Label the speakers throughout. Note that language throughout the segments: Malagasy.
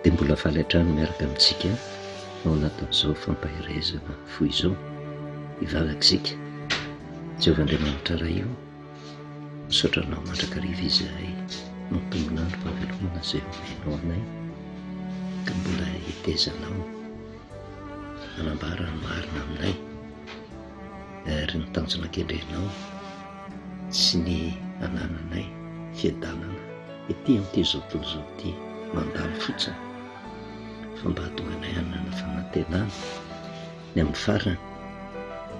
Speaker 1: Dia mbola faly hatrany miaraka amintsika ao anatin'izao fampaherezana fo izao hivavaka isika. Jehovah Andriamanitra Ray io, misaotra anao mandrakariva izahay mampitombolan'ny fahavelomana izay omenao anay ka mbola hetezanao manambara ny marina aminay. ary ny tanjona kendrenao sy ny anananay fiadanana ety amin'ity izao tontolo izao ity mandalo fotsiny fa mba hahatonga anay hanana fanantenana ny amin'ny farany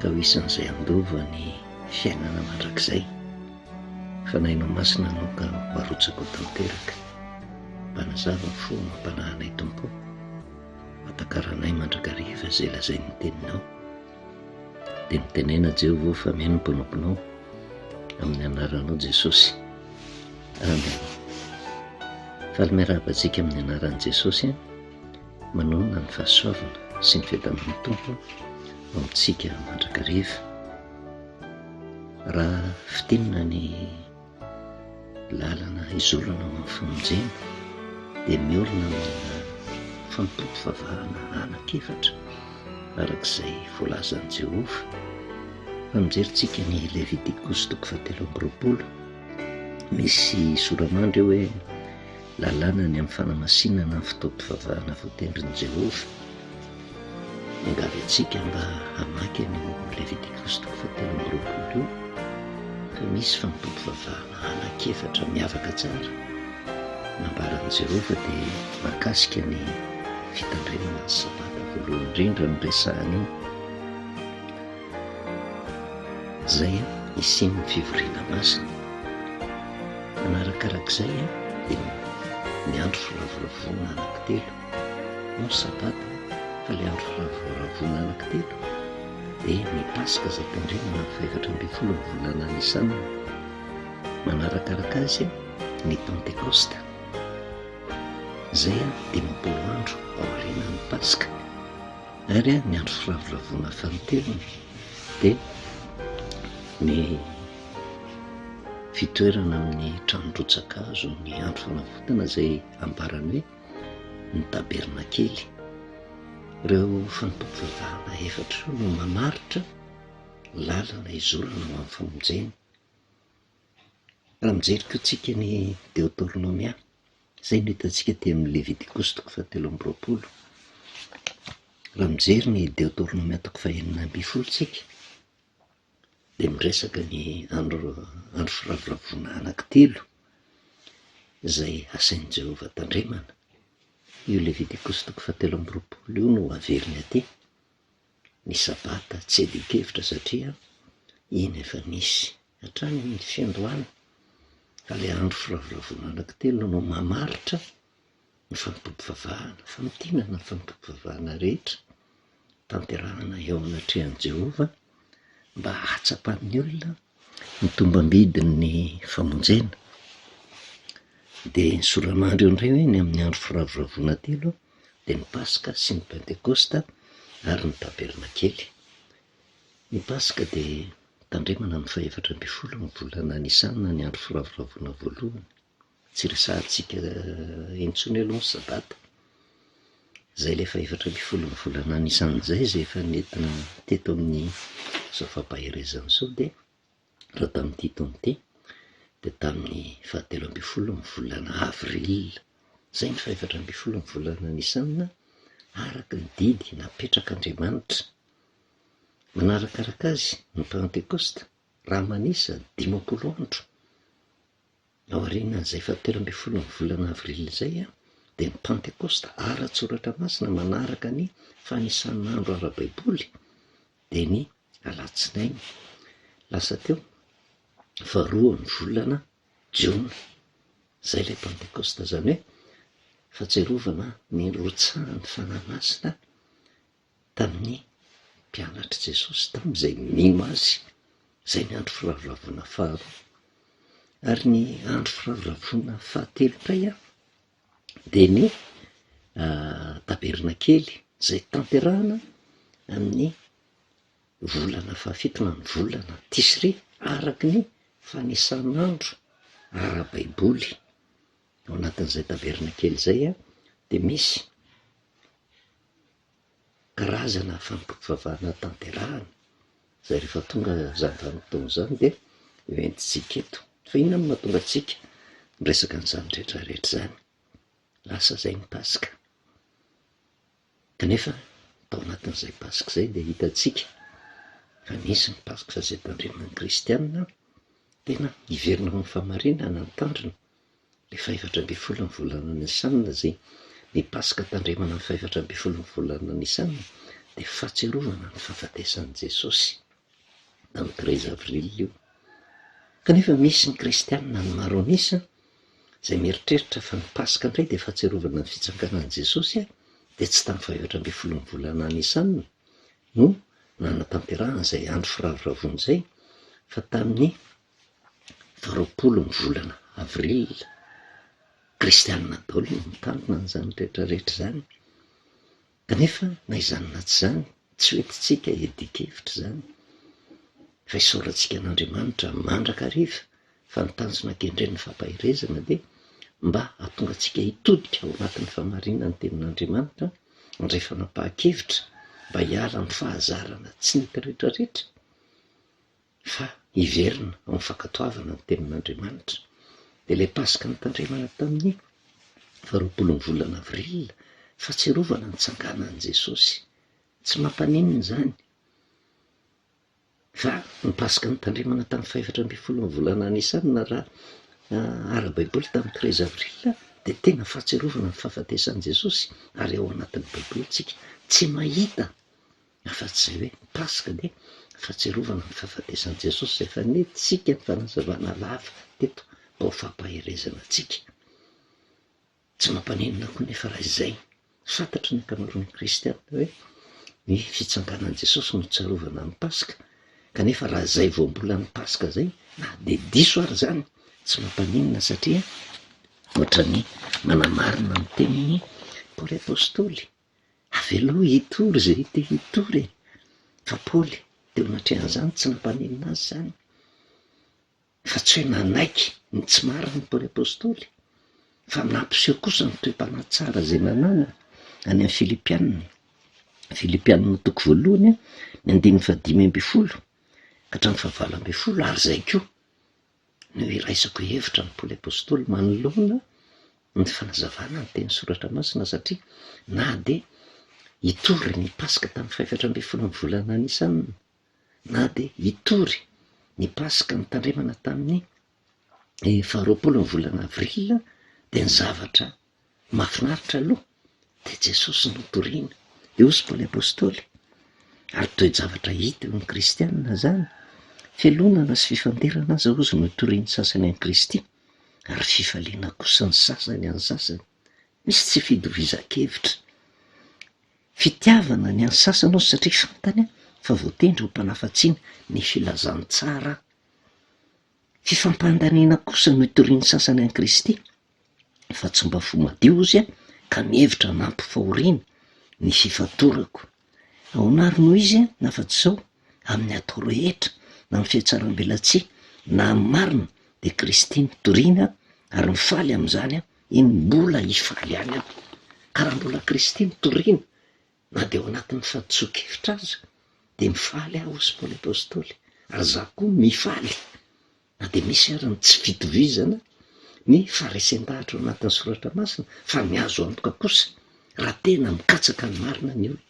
Speaker 1: ka ho isan'izay handova ny fiainana mandrakizay fa na ianao masina anao ka ho arotsaka ho tanteraka mba nazava fo mampanahy anay tompo Atakaranay mandrakariva izay lazain'ny Teninao. Dia mitenena Jehovah fa mihaino ny mpanomponao amin'ny anaranao Jesosy. Amen. Faly miarahaba antsika amin'ny anaran'i Jesosy. Manonona ny fahasoavana sy ny fiadanan'ny Tompo ao amintsika mandrakariva. Raha fitinina ny Lalana hizorana ho an'ny famonjena dia miorina amina fampivavahana anankiefatra, araka izay voalazan'i Jehovah. Raha mijerintsika ny Levitikosy toko fahatelo amby roapolo, misy sora-mandry eo hoe Lalàna ny amin'ny fanamasinana ny fotoam-pivavahana voatendrin'i Jehovah. Miangavy antsika mba hamaky an'io Levitikosy toko fahatelo amby roapolo io fa misy fampivavahana anankiefatra miavaka tsara nambaran'i Jehovah dia mahakasika ny fitandremana ny Sabata. Voalohany indrindra no resahiny io izay hisian'ny fivoriana masina. Manarakarak'izay dia miandry firavoravoana anankitelo. Andro sabata fa ilay andro fahavoaravona anankitelo dia ny Paska izay tandremana amin'ny fahefatra ambin'ny folon'ny volana Nisana. Manarakaraka azy ny Pantekosta. Izay dimampolo andro aorianan'ny Paska. Ary ny andro firavoravoana fahaterony dia ny fitoerana amin'ny tranon-drotsakazo ny andro fanavotana izay ambarany hoe ny tabernakely. Ireo fanampim-pivavahana efatra ireo no mamaritra ny lalana hizorana ho amin'ny famonjena. Raha mijery koa tsika ny Deotornomia, izay no hitantsika aty amin'ny Levitikosy toko fahatelo amby roapolo. Raha mijery ny Deotornomia toko fahenina ambin'ny folo tsika, dia miresaka ny andro andro firavoravoana anankitelo izay asain'i Jehovah tandremana. Io Levitikosy toko fahatelo amby roapolo io no averiny aty. Ny sabata tsy adin-kevitra satria iny efa nisy hatrany ny fiandohana, fa ilay andro firavoravoana anankitelo no mamaritra ny fampivavahana, famintinana ny fampivavahana rehetra tanterahina eo anatrehan'i Jehovah mba hahatsapan'ny olona ny tombam-bidin'ny famonjena. Dia ny soranandro eo indray hoe ny amin'ny andro firavoravoana telo dia ny Paska sy ny Pentekosta ary ny Tabernakely. Ny Paska dia tandremana ny fahefatra ambin'ny folo ny volana Nisana ny andro firavoravoana voalohany. Tsy resahantsika intsony aloha ny sabata. Izay ilay fahefatra ambin'ny folon'ny volana anisan'izay izay efa nentina teto amin'izao fampaherezana izao dia raha tamin'ity taona ity dia tamin'ny fahatelo ambin'ny folon'ny volana avril izay ny fahefatra ambin'ny folon'ny volana anisanina araka ny didy napetrak'Andriamanitra. Manarakaraka azy ny Pantekosta raha manisa dimampolo andro. Aorianan'izay fahatelo ambin'ny folon'ny volana avrily izay dia ny Pantekosta ara-tSoratra Masina manaraka ny fanisan'andro ara-baiboly dia ny alatsinainy lasa teo faharoa ny volana jiona. Izay ilay Pantekosta izany hoe fahatsiarovana ny nirotsahan'ny Fanahy Masina tamin'ny mpianatr'i Jesosy tamin'izay nino Azy, izay ny andro firavoravoana faharoa. Ary ny andro firavoravoana fahatelo pay a, dia ny tabernakely izay tanterahana amin'ny volana fahafito na ny volana Tisri araky ny fanisan'andro ara-baiboly. Ao anatin'izay tabernakely izay a, dia misy. karazana fampivavahana tanterahina izay rehefa tonga izany vanim-potoana izany dia hoentintsika eto, fa inona no mahatonga antsika miresaka an'izany rehetra rehetra izany? lasa izay ny paska kanefa tao anatin'izay paska izay dia hitantsika fa nisy ny paska izay tandreman'ny kristianina tena hiverina ho amin'ny fahamarinana ny tandrony. ny fahefatra ambin'ny folo ny volana Nissan izay ny Paska tandremana ny fahefatra ambin'ny folo ny volana Nissan dia fahatsiarovana ny fahafatesan'i Jesosy tamin'ny treize avril io kanefa misy ny kristianina ny maro an'isa izay mieritreritra fa ny Paska indray dia fahatsiarovana ny fitsanganan'i Jesosy dia tsy tamin'ny fahefatra ambin'ny folo ny volana Nissan no nanatanterahana izay andro firavoravoana izay fa tamin'ny Faharoapolo ny volana avril, kristianina daholo no mitandrina an'izany rehetra rehetra izany, kanefa na izany na tsy izany tsy ho entintsika hiadian-kevitra izany fa isaorantsika an'Andriamanitra mandrakariva fa ny tanjona kendren'ny fampaherezana dia mba hahatonga antsika hitodika ao anatin'ny fahamarinan'ny tenin'Andriamanitra handray fanapahan-kevitra mba hiala amin'ny fahazarana tsy nety rehetra rehetra. fa hiverina amin'ny fankatoavana ny Tenin'Andriamanitra. Dia ilay Paska notandremana tamin'ny faharoapolon'ny volana Avril, fahatsiarovana ny nitsanganan'i Jesosy. Tsy mampaninona izany fa ny Paska notandremana tamin'ny fahefatra ambin'ny folon'ny volana Nisan raha ara-baiboly tamin'ny treize Avril dia tena fahatsiarovana ny fahafatesan'i Jesosy ary ao anatin'ny baibolintsika tsy mahita Afa-tsy izay hoe Paska anie, fahatsiarovana ny fahafatesan'i Jesosy izay fanentintsika ny fanazavana lava teto ao fampaherezana antsika. Tsy mampaninona koa anefa raha izay. Fantatry ny ankamaroan'ny kristiana hoe ny fitsanganan'i Jesosy no tsarovana ny Paska, kanefa raha izay voambolan'ny Paska izay, na dia diso ary izany, tsy mampaninona satria ohatran'ny manamarina ny tenin'i Paoly apostoly. Avelao hitory izay te hitory e! Fa Paoly, teo anatrehan'izany, tsy nampaninona azy izany, fa tsy hoe nanaiky ny tsy marina i Paoly apostoly, fa nampiseho kosa ny toe-panahy tsara izay nananany, any amin'ny Filipianina, Filipianina toko voalohany, ny andininy fahadimy ambin'ny folo ka hatramin'ny fahavalo ambin'ny folo, ary izay koa no hiraisako hevitra amin'i Paoly Apostoly manoloana ny fanazavana ny teny Soratra Masina satria na dia hitory ny Paska tamin'ny fahefatra ambin'ny folo ny volana Nisan na dia hitory ny Paska ny tandremana tamin'ny faharoapolo ny volana Avril dia ny zavatra Mahafinaritra aloha, dia Jesosy no toriana. Dia hoy Paoly Apostoly, ary toe-javatra hita eo amin'ny kristianina izany, fialonana sy fifanderana aza hozy no itorian'ny sasany an'i Kristy, ary fifaliana kosa ny sasany an'ny sasany. Misy tsy fitovizan-kevitra. Fitiavana ny an'ny sasany hozy satria fantany fa voatendry ho mpanafatsiny ny filazantsara. Fifampandaniana kosa no itorian'ny sasany an'i Kristy, fa tsy mba fo madio izy an, ka mihevitra hanampy fahoriana ny fifantorako. Ahoana ary no izy na afa-tsy izao, amin'ny atao rehetra, na amin'ny fihatsarambelatsihy, na amin'ny marina, dia Kristy no toriana ary mifaly amin'izany an, eny, mbola hifaly ihany aho. Ka raha mbola Kristy no toriana, na dia ao anatin'ny fahadisoan-kevitra aza, dia mifaly aho hoy Paoly Apostoly, ary izaho koa mifaly. Na dia misy ary ny tsy fitovizana ny faharesen-dahatra ao anatin'ny soratra masina, fa ny azo antoka kosa, raha tena mikatsaka ny marina ny olona,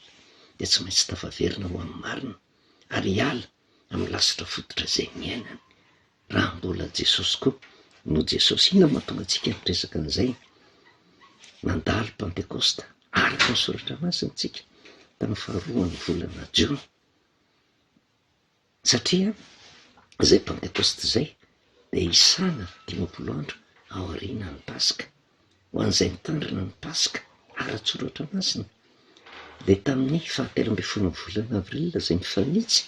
Speaker 1: dia tsy maintsy tafaverina ho amin'ny marina, ary hiala amin'ny lasitra fototra izay niainany, raha mbola Jesosy koa no Jesosy. Inona no mahatonga antsika hiresaka an'izay? Nandalo Pantekosta, araka ny soratra masina, isika tamin'ny faharoan'ny volana Jona. Satria izay Pantekôsty izay dia isana dimampolo andro aoriana ny Paska. Ho an'izay mitandrina ny Paska ara-tsoratra masina, dia tamin'ny fahatelo ambin'ny folon'ny volana Avril izay mifanitsy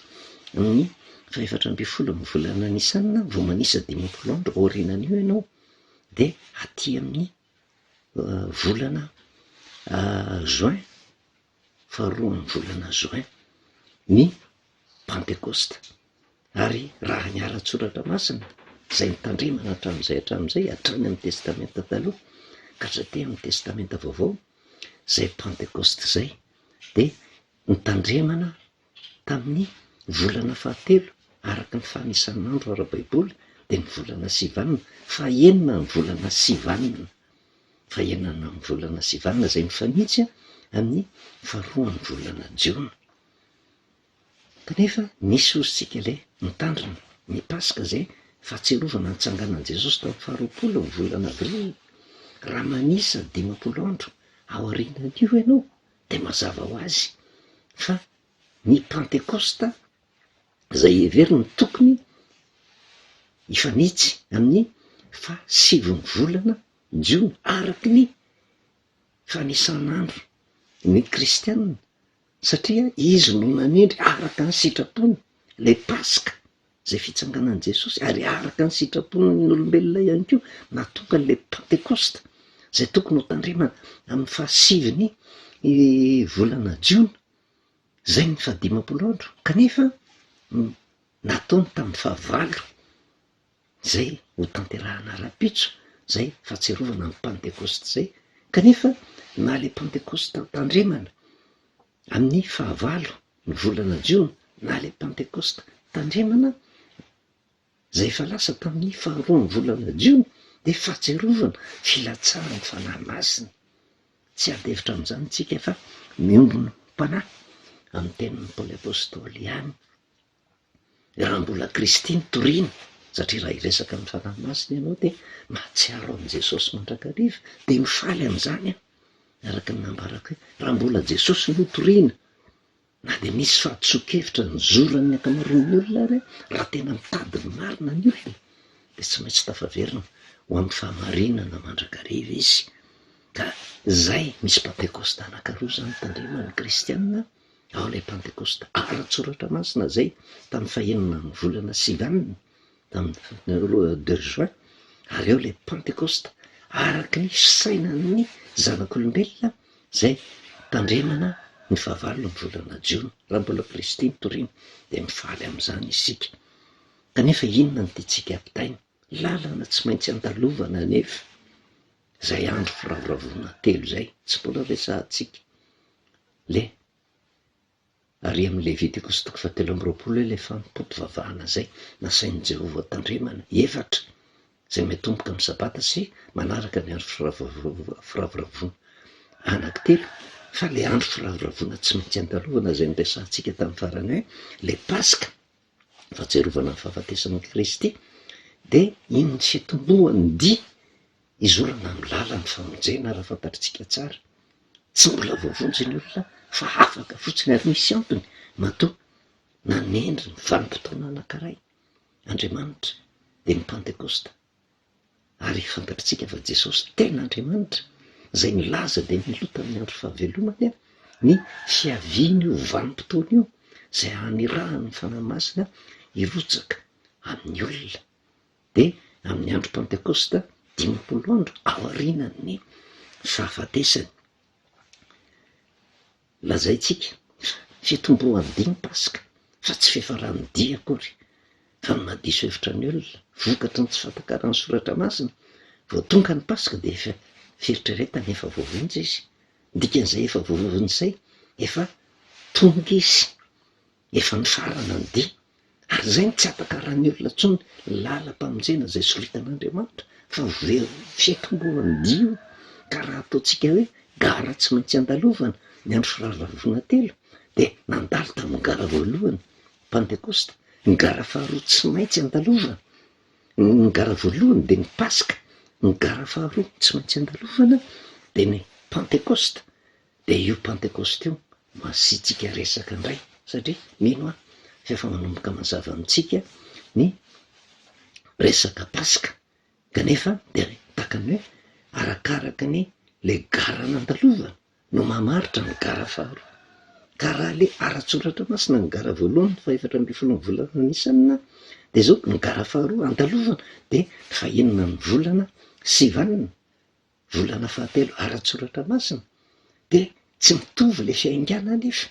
Speaker 1: amin'ny fahefatra ambin'ny folon'ny volana Nisana vao manisa dimampolo andro aorianan'io ianao, dia aty amin'ny volana Juin. faharoan'ny volana Juin ny Pantekosta ary raha ny ara-tsoratra masina izay nitandremana hatramin'izay hatramin'izay hatrany amin'ny Testamenta Taloha ka hatraty amin'ny Testamenta Vaovao izay Pantekosta izay dia nitandremana Tamin'ny volana fahatelo araka ny fanisan'andro ara-baiboly dia ny volana Sivan, fahenina ny volana Sivan, fahenina ny volana Sivan, izay mifanitsy amin'ny faharoan'ny volana Jiona. Kanefa misy hozintsika ilay mitandrina ny Paska izay fahatsiarovana nitsanganan'i Jesosy tamin'ny faharoapolo ny volana Avril, raha manisa dimampolo andro aorianan'io ianao, Dia mazava ho azy fa ny Pantekosta izay heverina ho tokony hifanitsy amin'ny fahasivon'ny volana Jiona araka ny fanisan'andro ny Kristianina satria izy no nanendry araka ny sitrapony ilay Paska. Izay fitsanganan'i Jesosy, ary araka ny sitrapon'ny olombelona ihany koa, nahatonga an'ilay Pantekosta, izay tokony ho tandremana amin'ny fahasivin'ny volana Jiona, izay ny fahadimampolo andro, kanefa nataony tamin'ny fahavalo, izay hotanterahana rahampitso, izay fahatsiarovana ny Pantekosta izay, kanefa na ilay Pantekosta tandremana, Amin'ny fahavalo ny volana jiona, na ilay Pantekosta, tandremana izay efa lasa tamin'ny faharoa ny volana jiona, dia fahatsiarovana filatsahan'ny Fanahy Masina. Tsy hiady hevitra amin'izany isika fa miombon'Mpanahy amin'ny tenin'i Paoly Apostoly ihany. Raha mbola Kristin toriana satria raha hiresaka amin'ny Fanahy Masina ianao dia mahatsiaro an'i Jesosy mandrakariva dia mifaly amin'izany aho araka ny nambarako hoe raha mbola Jesosy no toriana na dia misy fahadisoan-kevitra nozoran'ny ankamaroan'ny olona ary raha tena mitady ny marina ny olona dia tsy maintsy tafaverina ho amin'ny fahamarinana mandrakariva izy ka izay misy Pantekosta anankiroa izany tandreman'ny Kristianina ao ilay Pantekosta ara-tsoratra masina izay tamin'ny fahenina amin'ny volana Sivan, tamin'ny roa deux juin, ary ao ilay Pantekosta araka ny fisainan'ny zanak'olombelona izay hitandremana ny fahavalo amin'ny volana jiona. Raha mbola Kristy ny torina dia mifaly amin'izany isika. Kanefa inona no tiantsika ampitaina? Lalana tsy maintsy andalovana anefa izay andro firavoravoana telo izay, tsy mbola resahantsika. Le. Ary amin'ny Levitikosy toko fahatelo amby roapolo ilay fampivavahana izay nasain'i Jehovah ho tandremana, efatra, izay miatomboka amin'ny Sabata sy manaraka ny andro firavoravoana. Anankitelo, fa ilay andro firavoravoana tsy maintsy andalovana izay noresahantsika tamin'ny farany hoe ilay Paska. fahatsiarovana ny fahafatesan'i Kristy, dia iny ny fitomboan'ny dia hizorana amin'ny lalan'ny famonjena raha fantatritsika tsara. Tsy mbola voavonjy ny olona fa afaka fotsiny ary misy antony matoa nanendry ny vanim-potoana anankiray Andriamanitra, dia ny Pantekosta. ary fantatritsika fa Jesosy tena Andriamanitra izay nilaza dia mialoha tamin'ny andro fahavelomany ny fiaviany io vanim-potoana io izay hanirahany ny Fanahy Masina hirotsaka amin'ny olona dia amin'ny andro Pantekosta dimampolo andro aorianan'ny fahafatesany Lazaintsika fitomboan'ny dimy Paska fa tsy fiafaran'ny dia akory, fa ny maha diso hevitra ny olona vokatry ny tsy fahatakaran'ny Soratra Masina. Vao tonga ny Paska dia efa fieritreretana efa voavonjy izy. Ny dikan'izay efa voavonjy izay, efa tonga izy. Efa nifarana ny dia, ary izay no tsy ampakarain'ny olona intsony ny lalam-pamonjena izay soritan'Andriamanitra, fa velona ny fiantombohan'ny dia io, ka raha ataontsika hoe gara tsy maintsy andalovana ny andro firavoravoana telo, dia nandalo tamin'ny gara voalohany, Pantekosta, ny gara faharoa tsy maintsy andalovana, ny gara voalohany dia ny Paska, ny gara faharoa tsy maintsy andalovana dia ny Pantekosta, Dia io Pentecost io no asiantsika resaka indray satria mino aho fa efa manomboka mazava amintsika ny resaka Paska kanefa dia tahaka ny hoe arakaraka ny le gara nandalovana no mamaritra ny gara faharoa ka raha le ara-tsoratra masina ny gara voalohany fahefatra ambin'ny folo ny volana Nisana dia zao ny gara faharoa andalovana dia fahenina ny volana Sivan Volana fahatelo ara-tsoratra masina dia tsy mitovy ilay fiaingàna anefa,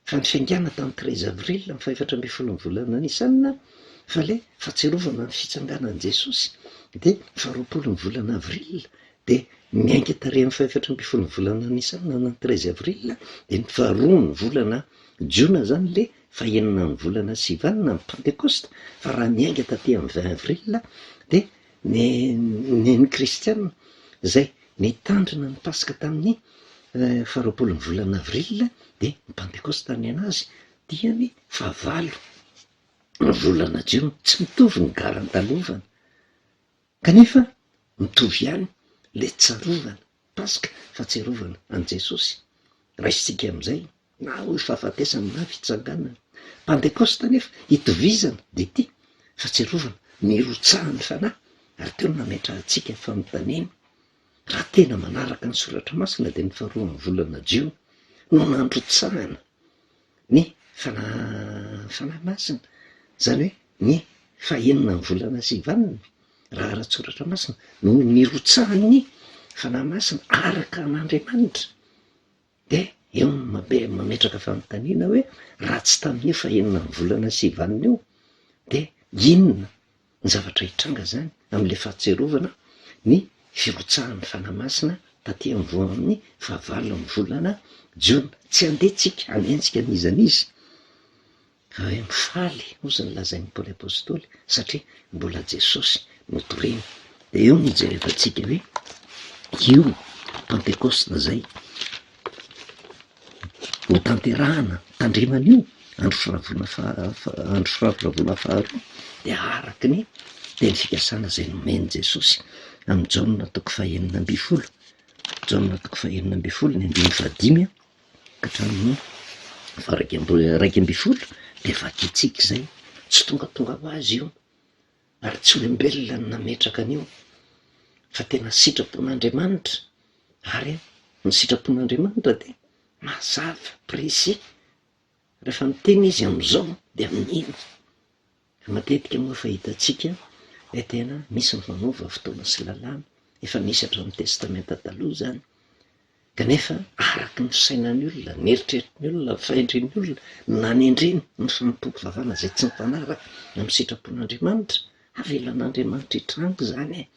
Speaker 1: fa ny fiaingàna tamin'ny treize avril ny fahefatra ambin'ny folo ny volana Nissan, fa ilay fahatsiarovana ny fitsanganan'i Jesosy dia faharoapolo ny volana avril, dia miainga tarehin'ny fahefatra ambin'ny folo ny volana Nissan na ny treize avril dia ny faharoa ny volana jiona izany ilay fahenina ny volana sivanina ny pentekosta, fa raha miainga taty amin'ny vingt avril dia Ny neny kristiana izay nitandrina ny Paska tamin'ny faharoapolon'ny volana avril dia ny Pantekosta ny an'azy dia ny fahavalo ny volana jiona. Tsy mitovy ny gara andalovana kanefa mitovy ihany ilay tsarovana Paska, fahatsiarovana an'i Jesosy. Raisintsika amin'izay. Na hoy fahafatesany na fitsanganany. Pantekosta anefa, itovizana, dia ity, fahatsiarovana, nirotsahan'ny Fanahy, ary teo no nametrahantsika fanontaniana, raha tena manaraka ny Soratra Masina dia ny faharoan'ny volana jiona no nandrotsahana ny Fanahy Fanahy Masina, izany hoe ny fahenina ny volana sy vaniny, raha ara-tSoratra Masina, no nirotsahan'ny Fanahy Masina araka an'Andriamanitra. Dia eo no mametraka fanontaniana hoe, raha tsy tamin'io fahenina amby volana sivy alina io dia inona ny zavatra hitranga izany amin'ilay fahatsiarovana ny firotsahan'ny Fanahy Masina taty am-boho amin'ny fahavalo amin'ny volana jiona? Tsy handeha tsika hanenjika an'iza an'iza. Ary mifaly, hoy izany lazain'i Paoly Apostoly, satria mbola Jesosy no toriana. Dia eo no hijerevantsika hoe io Pantekosta izay hotanterahana tandreman'io andro firavorana faha- andro firavoravoana faharoa dia araka ny teny fikasana izay nomen'i Jesosy amin'i Jaona toko fahenina ambin'ny folo, Jaona toko fahenina ambin'ny folo ny andininy fahadimy a. hatramin'ny varaika iraika ambin'ny folo dia vakintsika izay, tsy tongatonga ho azy io ary tsy olombelona no nametraka an'io fa tena sitrapon'Andriamanitra ary ny sitrapon'Andriamanitra dia mazava, précis, rehefa miteny izy amin'izao dia amin'iny. Matetika moa fa hitantsika hoe tena misy ny manova fotoana sy lalàna, efa misy hatramin'ny Testamenta Taloha izany, kanefa araka ny sainan'ny olona, ny eritreritry ny olona, ny fahendren'ny olona no nanendreny ny fanompoam-pivavahana izay tsy mifanaraka amin'ny sitrapon'Andriamanitra. Avelan'Andriamanitra hitranga izany e!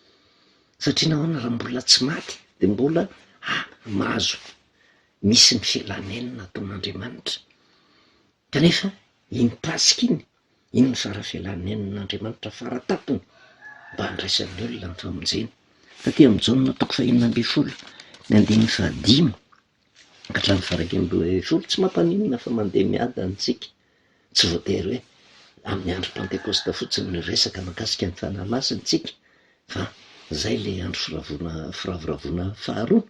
Speaker 1: Satria nahoana raha mbola tsy maty dia mbola mahazo misy ny filan'ny aina nataon'Andriamanitra? Kanefa iny Paska iny Inona ny sary avela nen'Andriamanitra fara tampony mba handraisan'ny olona ny famonjena? Taty amin'ny Jaona toko fahenina ambin'ny folo, ny andininy fahadimy ka hatramin'ny faharaika amby roapolo, tsy mampaninona fa mandeha miadana isika. Tsy voatery hoe amin'ny andro Pantekosta fotsiny no hiresaka mahakasika ny Fanahy Masina isika fa izay ilay andro firavoravoana faharoa.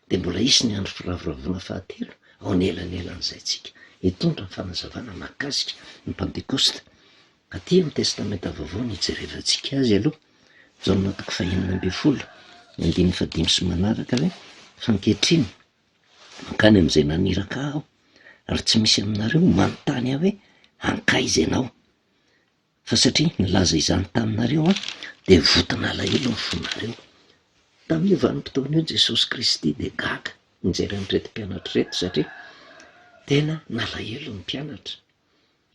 Speaker 1: dia mbola hisy ny andro firavoravoana fahatelo ao anelanelan'izay tsika hitondra ny fanazavana mahakasika ny Pantekosta. Aty amin'ny Testamenta Vaovao no hijerevantsika azy aloha, Jaona toko fahenina ambin'ny folo, andininy fahadimy sy manaraka hoe, Fa ankehitriny, mankany amin'izay naniraka ahy aho, ary tsy misy aminareo manontany ahy hoe, Ankaiza ianao? Fa satria nilaza izany taminareo aho, dia voton'alahelo ny fonareo. Tamin'io vanim-potoana io, Jesosy Kristy dia gaga nijery an'ireto mpianatra ireto, satria tena nalahelo ny mpianatra.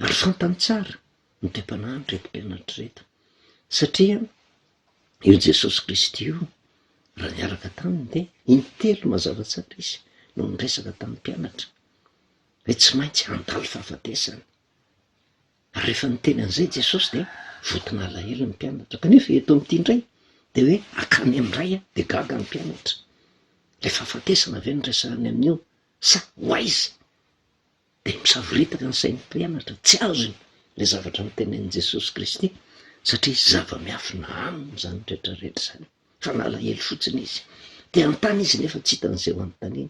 Speaker 1: Ary fantany tsara ny toe-panahin'ireto mpianatra ireto, satria io Jesosy Kristy io, raha niaraka taminy, dia intelo mazava tsara izy no niresaka tamin'ny mpianatra hoe tsy maintsy handalo fahafatesana. Ary rehefa niteny an'izay Jesosy dia vonton'alahelo ny mpianatra, kanefa eto amin'ity indray dia hoe akany amin'ny Ray aho, dia gaga ny mpianatra. Ilay fahafatesana ve no resahiny amin'io sa ho aiza? Dia misavoritaka ny sain'ny mpianatra, tsy azony ilay zavatra notenenin'i Jesosy Kristy satria zava-miafina aminy izany rehetra rehetra izany. fa nalahelo fotsiny izy. Te hanontany izy nefa tsy hitany izay ho anontaniany.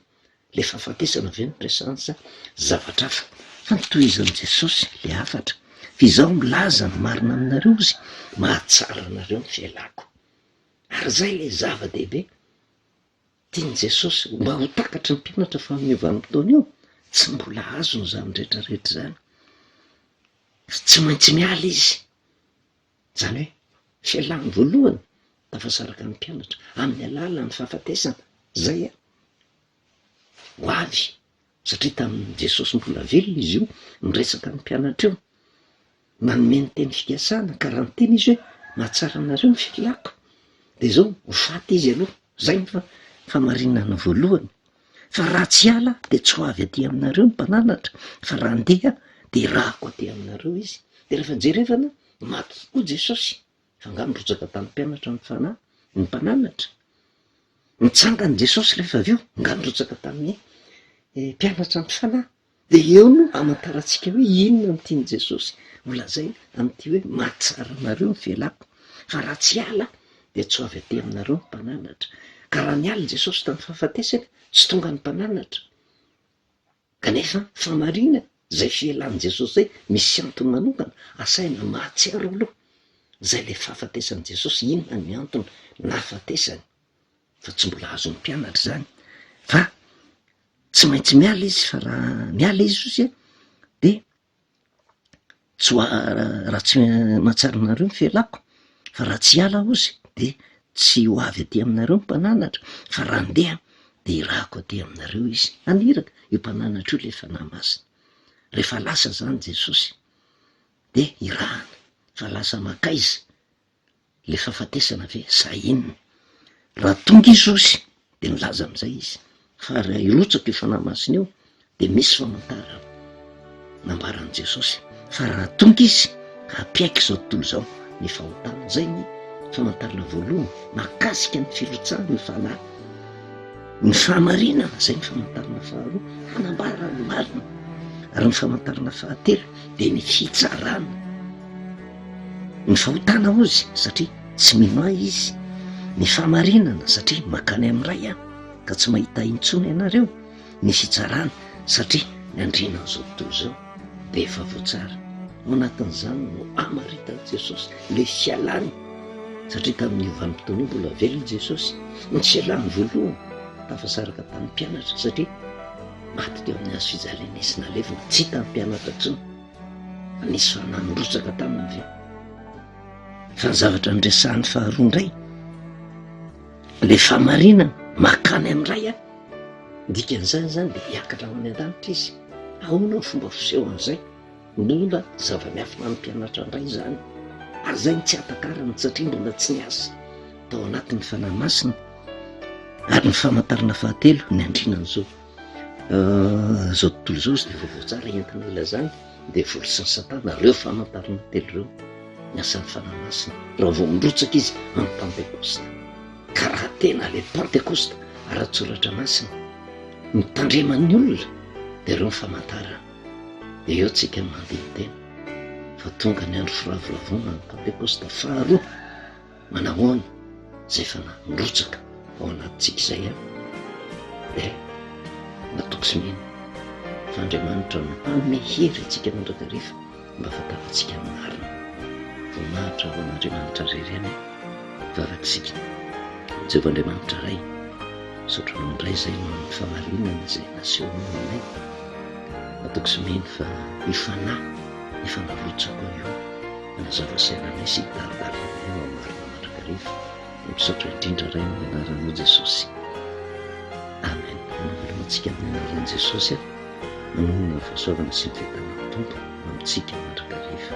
Speaker 1: Ilay fahafatesana ve no presahany sa zavatra hafa? Fa notohizan'i Jesosy ilay hafatra, Fa Izaho milaza ny marina aminareo, Izy mahatsara anareo ny fialako. Ary izay ilay zava-dehibe tian'i Jesosy mba ho takatry ny mpianatra fa amin'io vanim-potoana io, tsy mbola azony izany rehetra rehetra izany. Tsy maintsy miala izy Izany hoe, fialany voalohany tafasaraka ny mpianatra amin'ny alalan'ny fahafatesana, izay a! ho avy, satria tamin'i Jesosy mbola velona izy io, niresaka ny mpianatra io, nanome ny teny fikasana ka raha niteny izy hoe, mahatsara anareo ny filàko, dia izao, ho faty izy aloha, izay ny famarinana voalohany fa raha tsy hiala dia tsy ho avy aty aminareo ny mpananatra fa raha andeha dia irahako aty aminareo izy de rehefa jerevana maty tokoa jesosy fa nga mirotsaka tany mpianatra ny fanahy ny mpananatra nitsangany jesosy rehefa avy eo nga mirotsaka tamin'ny eh, mpianatra ny fanahy Dia eo no hamantarantsika hoe inona no tian'i Jesosy holazaina amin'ity hoe mahatsara anareo ny fialako, fa raha tsy hiala dia tsy ho avy aty aminareo ny mpananatra. Ka raha niala i Jesosy tamin'ny fahafatesany, tsy tonga ny mpananatra. Kanefa fahamariana izay fialan'i Jesosy izay misy antony manokana, asaina mahatsiaro aloha izay ilay fahafatesan'i Jesosy, inona ny antony nahafatesany. fa tsy mbola azon'ny mpianatra izany fa tsy maintsy miala izy fa raha miala izy ozy a de tsy ho raha tsy mahatsiaro anareo ny fialako fa raha tsy hiala aho ozy de tsy ho avy aty aminareo ny mpananatra fa raha andeha de irahako aty aminareo izy, haniraka io mpananatra io le fanahy masina, rehefa lasa zany Jesosy de irahana fa lasa makaiza? le fahafatesana ve sa inona? raha tonga i Jesosy de nilaza an'izay izy fa raha hirotsaka io fanahy masina io de misy famantarana nambaran'i Jesosy fa raha tonga izy ka hampiaiky izao tontolo izao ny fahotana, zay ny famantarana voalohany mahakasika ny firotsahan'ny fanahy, ny fahamarinana zay ny famantarana faharoa hanambarany marina ary ny famantarana fahatelo de ny fitsarana. Ny fahotana hozy satria tsy mino ahy izy, ny fahamarinana satria mankany amin'ny Ray aho ka tsy mahita ahy intsony ianareo, ny fitsarana satria ny andriana an'izao tontolo izao dia efa voatsara. Ao anatin'izany no amaritan'i Jesosy ilay fialany satria tamin'io vanim-potoana io mbola velona i Jesosy no tsy ialany voalohany, tafasaraka tamin'ny mpianatra satria maty teo amin'ny hazo fijaliana izy nalevina, tsy hitan'ny mpianatra intsony. Nisy olona nirotsaka taminy ve? Fa ny zavatra niresahany faharoa indray, le famarinana makany amin'ny ray a, dikan'izany zany dia hiakatra ho any an-danitra izy, ahoana ny fomba fisehon'izay? Mbola zava-miafina amin'ny mpianatra indray izany, ary izay no tsy ahatankarana satria mbola tsy niasa tao anatin'ny fanahy masina, ary ny famantarana fahatelo ny andrinan'izao. Izao tontolo izao izy dia vaovao tsara entina ilazana dia vory sasa-tana ireo famantarana telo ireo ny asan'ny Fanahy Masina raha vao mirotsaka izy amin'ny Pantekosta ka raha tena ilay Pantekosta ara-tsoratra masina mitandreman'ny olona dia ireo ny famantarana dia eo tsika mandidy tena fa tonga ny andro firavoravoana ny Pantekosta faharoa manahoana izay fanahy mirotsaka ao anatintsika izay a dia matoky sy mino fa Andriamanitra no hanome hery antsika mandrakariva mba ahafantarantsika ny marina voninahitra ho an'Andriamanitra irery ihany vavak'isika Jehovah Andriamanitra Ray misaotra anao indray izay ny famarinana izay nasehonao aminay matoky sy mino fa io fanahy efa mirotsaka io Mazava sy ananay sy Barbara Ray no hamarina mandrakariva. Misaotra indrindra Ray amin'ny anaranao Jesosy. Amen. Mameloma antsika amin'ny anaran'i Jesosy aho. Manonona ny fahasoavana sy ny fiadanan'ny Tompo amintsika mandrakariva.